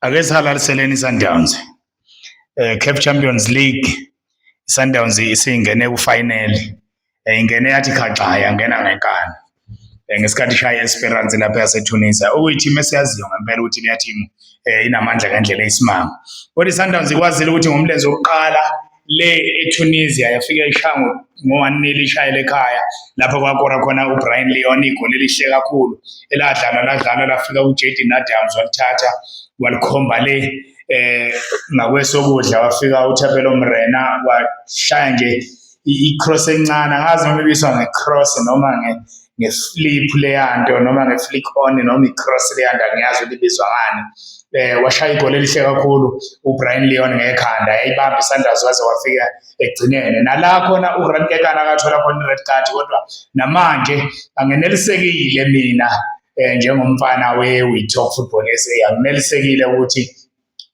ake sihalaliseleni iSundowns eh CAF Champions League iSundowns isingene kufinal eh, ingene yathi khaxa yangena ngenkani eh, ngesikhathi ishaya Esperance lapha yaseTunisia okuyithim esiyaziyo ngempela ukuthi leyathimu eh, inamandla ngendlela eyisimanga kodwa iSundowns ikwazile ukuthi ngomlenze wokuqala le eTunisia yafika ishango ngo-1 ishayele ekhaya lapho kwakora khona uBrian Leon igoli elihle kakhulu eladlala ladlala lafika uJaden Adams walithatha walikhomba le eh ngakwesokudla wafika uThapelo Mrena washaya nje i-cross encane angazi noma ibiswa nge-cross noma nge ngeslip leyanto noma ngeflick on noma icross leyanto angiyazi ukuthi ibizwa ngani eh washaya igoli elihle kakhulu uBrian Leon ngekhanda yayibamba isandla waze wafika egcinene nala khona uRand Kekana akathola khona red card kodwa namanje angenelisekile mina eh njengomfana weWithok Football SA angenelisekile ukuthi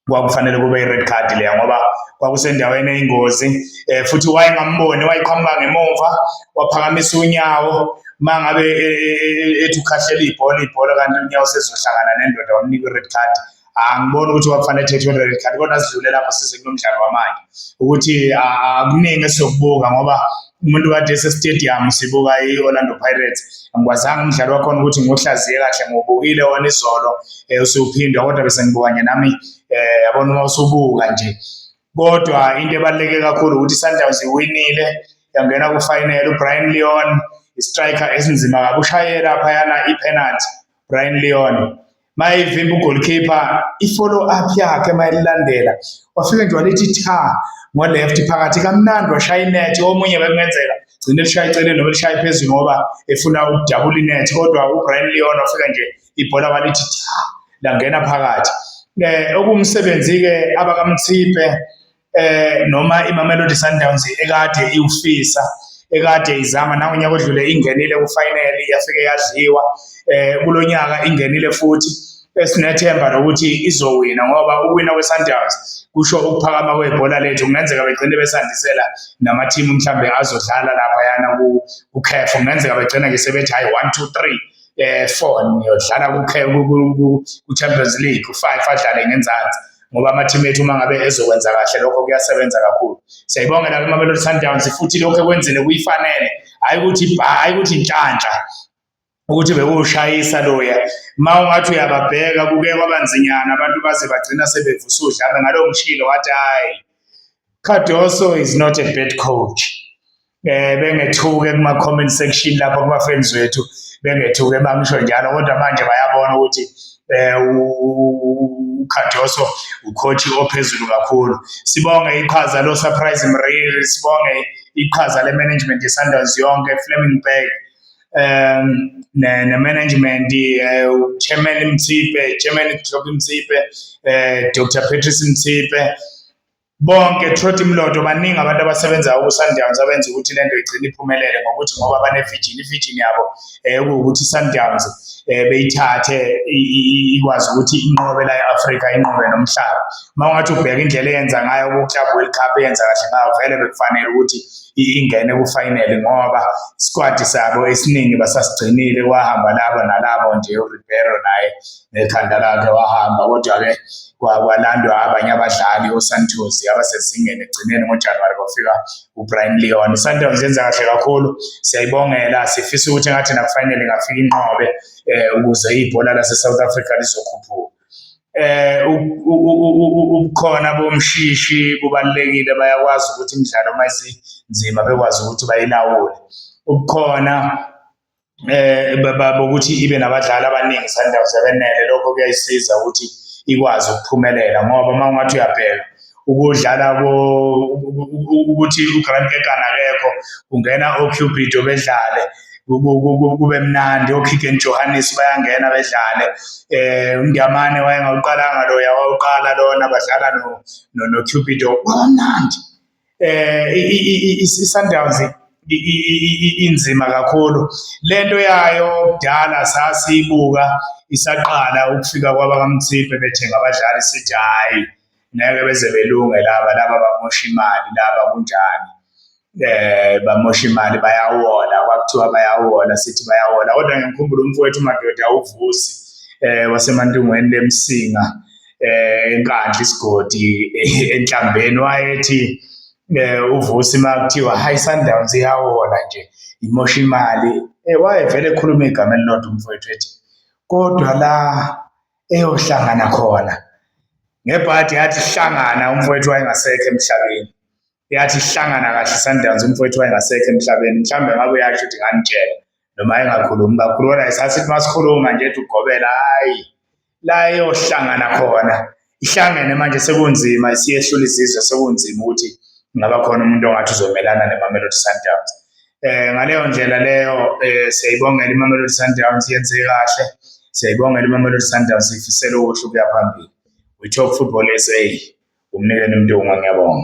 kwakufanele kube i-red card leya ngoba kwakusendaweni eyingozi eh futhi wayengamboni wayiqhamuka ngemumva waphakamisa unyawo mangabe e, e, e, ethi ukhahlela ibhola ibhola kanti unyawo sezohlangana nendoda wamnika i-red card angiboni ukuthi wakufanele ethethe i-red card kodwa sidlule lapho size kulo mdlalo wamanje ukuthi akuningi esizokubuka ngoba umuntu kade esestadium sibuka i-orlando pirates angikwazanga umdlalo wakhona ukuthi ngiwuhlaziye kahle ngiwubukile wona izolo um usiwuphindwa kodwa bese ngibuka nje nami um yabona uma usubuka nje kodwa into ebaluleke kakhulu ukuthi i-sundowns iwinile yangena kufinele ubrian leon istriker esinzima kakushayela phayana ipenalty Brian Leon mayivimba ugoalkeeper i-follow up yakhe mayilandela wafike nje walithi tha ngo-left phakathi kamnandi washaya inethi omunye bekungenzeka gcine lishaya eceleni noma lishaya phezulu ngoba efuna ukudabula inethi kodwa ubrian leon wafika nje ibhola walithi tha langena phakathi um eh, okuwumsebenzi-ke abakamthiphe eh noma iMamelodi Sundowns ekade iwufisa ekade izama nangonyaka odlule ingenile kufinal yafike yadliwa eh kulonyaka ingenile futhi esinethemba lokuthi izowina ngoba uwina kweSundowns kusho ukuphakama kwebhola lethu kungenzeka begcine besandisela namathimu mhlambe azodlala lapha yana ku uCAF kungenzeka begcina ke sebethi hayi 1 2 3 eh 4 niyodlala ku-Champions League u-5 adlale ngenzansi ngoba amathimu ethu uma ngabe ezokwenza kahle lokho kuyasebenza kakhulu siyayibongela kwimamelodi sundowns futhi lokho ekwenzile kuyifanele hhayi ukuthi bha hhayi ukuthi intshantsha ukuthi bekuwushayisa loya ma ungathi uyababheka kuke kwabanzinyana abantu baze bagcina sebevusa udlame ngalowo mshilo wathi hhayi Cardoso is not a bad coach. eh bengethuke kuma comment section lapho kuma friends wethu bengethuke bangisho njalo kodwa manje bayabona ukuthi eh uKhadoso ucoach ophezulu kakhulu sibonge iqhaza lo surprise Mriri sibonge iqhaza le management ye Sundowns yonke Fleming Bay um ne, ne management eh, chairman Mtsipe chairman Klopp Mtsipe eh, Dr Patrice Mtsipe bonke throughout imlodo baningi abantu abasebenzayo ku-sundowns abenza ukuthi le nto igcine iphumelele ngokuthi ngoba banevijini ivijini yabo um kuwukuthi i-sundowns um eh, beyithathe ikwazi ukuthi inqobe la e-afrika inqobe nomhlaba uma ungathi ubheka indlela eyenza ngayo kuclub world cup eyenza kahle ngayo vele bekufanele ukuthi ingene kufayinele ngoba isikwadi sabo esiningi basasigcinile kwahamba laba nalabo nje uribero naye ngekhanda lakhe wahamba kodwa-ke kwalandwa abanye abadlali osantos abasezingeni egcineni ngojanuwari kwafika ubrian leon isundowns yenza kahle kakhulu siyayibongela sifisa ukuthi ngathi nakufanele ngafika inqobe um ukuze ibhola lase-south africa lizokhuphuka eh ubukhona bomshishi kubalekile bayakwazi ukuthi imidlalo uma isinzima bekwazi ukuthi bayilawule ubukhona eh bokuthi ibe nabadlali abaningi Sundowns ebenele lokho kuyayisiza ukuthi ikwazi ukuphumelela ngoba uma ungathi uyabheka ukudlala ukuthi uGrant Kekana akekho kungena oCupido bedlale kube mnandi oKigen Johannes bayangena bedlale eh uNdiyamane wayengawuqalanga loya wawuqala lona badlala no noCupido kwamnandi eh iSundowns inzima kakhulu lento yayo kudala sasibuka isaqala ukufika kwabakamthiphe bethenga abadlali sithi hayi ngeke beze belunge laba laba bamosha imali laba kunjani eh bamosha imali bayawola kwakuthiwa bayawola sithi bayawola kodwa ngimkhumbula umfowethu madoda uvusi eh wasemantungweni lemsinga eh enkandla isigodi eh, enhlambeni wayethi eh uvusi makuthiwa high sundowns iyawola nje imosha imali eh wayevele ekhuluma igama elilodwa umfowethu ethi kodwa la eyohlangana khona ngebhadi yathi hlangana umfowethu wayengasekho emhlabeni yathi hlangana kahle Sundowns umfowethu wayengasekho emhlabeni mhlawumbe ngabe uyasho ukuthi nganitshela noma engakhulumi kakhulu kodwa isasithi masikhuluma nje ethi ugobela hayi la eyohlangana khona ihlangene manje sekunzima isiyehlula izizwe sekunzima ukuthi ngaba khona umuntu ongathi uzomelana nemamelodi Sundowns eh ngaleyo ndlela leyo eh, siyayibongela imamelodi Sundowns yenze kahle siyayibongela imamelodi Sundowns ifisela okuhle ukuya phambili we talk football SA umnikeni mntunga ngiyabonga